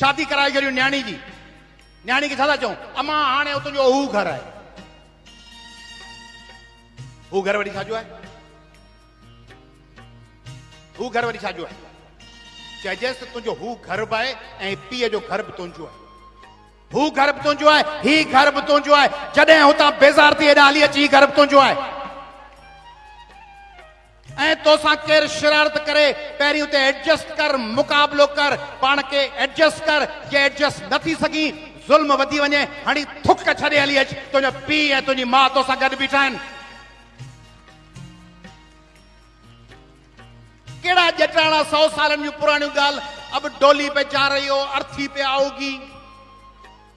شادي ڪرائي ڇڏيو نياڻي جي. نياڻي کي ڇا ٿا چئون؟ امان هاڻي هو تنهنجو اهو گهر آهي. هو گهر وري ڇا جو آهي؟ هو گهر وري ڇا جو آهي؟ چئجيس ته تنهنجو هو گهر به آهي ۽ پيء جو گهر به تنهنجو آهي. هو گهر به تنهنجو آهي، هي گهر به تنهنجو آهي. جڏهن هتان بيزار ٿي هيڏانهن هلي اچ، هي گهر به تنهنجو آهي. ۽ تو سان ڪير شرارت ڪري پهرين اتي ايڊجسٽ ڪر مقابلو ڪر پاڻ کي ايڊجسٽ ڪر جي ايڊجسٽ نه ٿي سگهين ظلم وڌي وڃي هڻي ٿڪ ڇڏي هلي اچ تنهنجو پيء ۽ تنهنجي ماء تو سان گڏ بيٺا آهن ڪهڙا ڄٽاڻا سو سالن جون پراڻيون ڳالهه اب ڊولي پي جا رهي هو ارٿي پي آئو گي.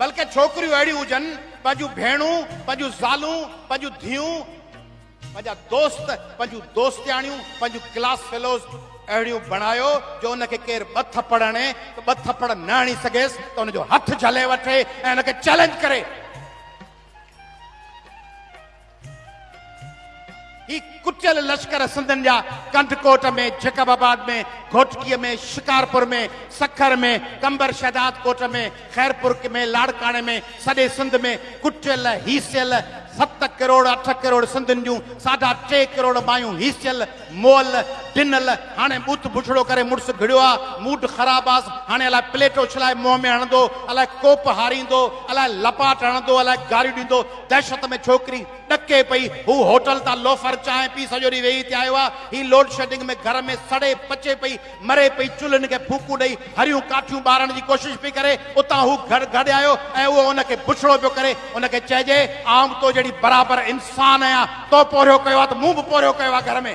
بلڪه ڇوڪريون اهڙيون هجن، پنهنجون ڀيڻون، پنهنجون زالون، پنهنجون ڌيئون، پنهنجا دوست، پنهنجون دوستياڻيون، پنهنجون ڪلاس فيلوز اهڙيون بڻايو جو ان کي ڪير ٻه ٿڦڙ هڻي ته ٻه ٿڦڙ نه هڻي سگهيس ته ان جو هٿ جهلي وٺي ۽ ان کي چئلينج ڪري. هي ڪٽيل لشڪر سنڌن جا ڪنڌڪوٽ ۾، جيڪب آباد ۾، گهوٽڪيء ۾، شڪارپور ۾، سکر ۾، قمبر شهداد ڪوٽ ۾، خيرپور ۾، لاڙڪاڻي ۾ سڄي سنڌ ۾ ڪٽيل، هيسيل، ست ڪروڙ اٺ ڪروڙ سنڌين جون ساڍا ٽي ڪروڙ مايون هيسيل، مئل، ڊنل، هاڻي بت بڇڙو ڪري مڙس گهڙيو آ، موڊ خراب آس، هاڻي الاء پليٽ اڇلائي منهن ۾ هڻندو، الاء ڪوپ هاريندو، الاء لپاٽ هڻندو، الاء گاريون ڏيندو، دهشت ۾ ڇوڪري ڏڪي پئي، هو هوٽل تان لوفر چانهه پي سڄو ڏينهن ويهي ٿي آيو آ، هي لوڊشيڊنگ ۾ گهر ۾ سڙي پچي پئي، مري پئي چلهن کي ڦوڪون ڏئي هريون ڪاٺيون ٻارڻ جي ڪوشش پئي ڪري اتان هو گهڙ گهڙ آيو ۽ اهو ان کي بڇڙو پيو ڪري ان کي چئجي آئون به تو جهڙي برابر انسان آهيان تو پورهيو ڪيو آهي ته مون به پورهيو ڪيو آهي گهر ۾.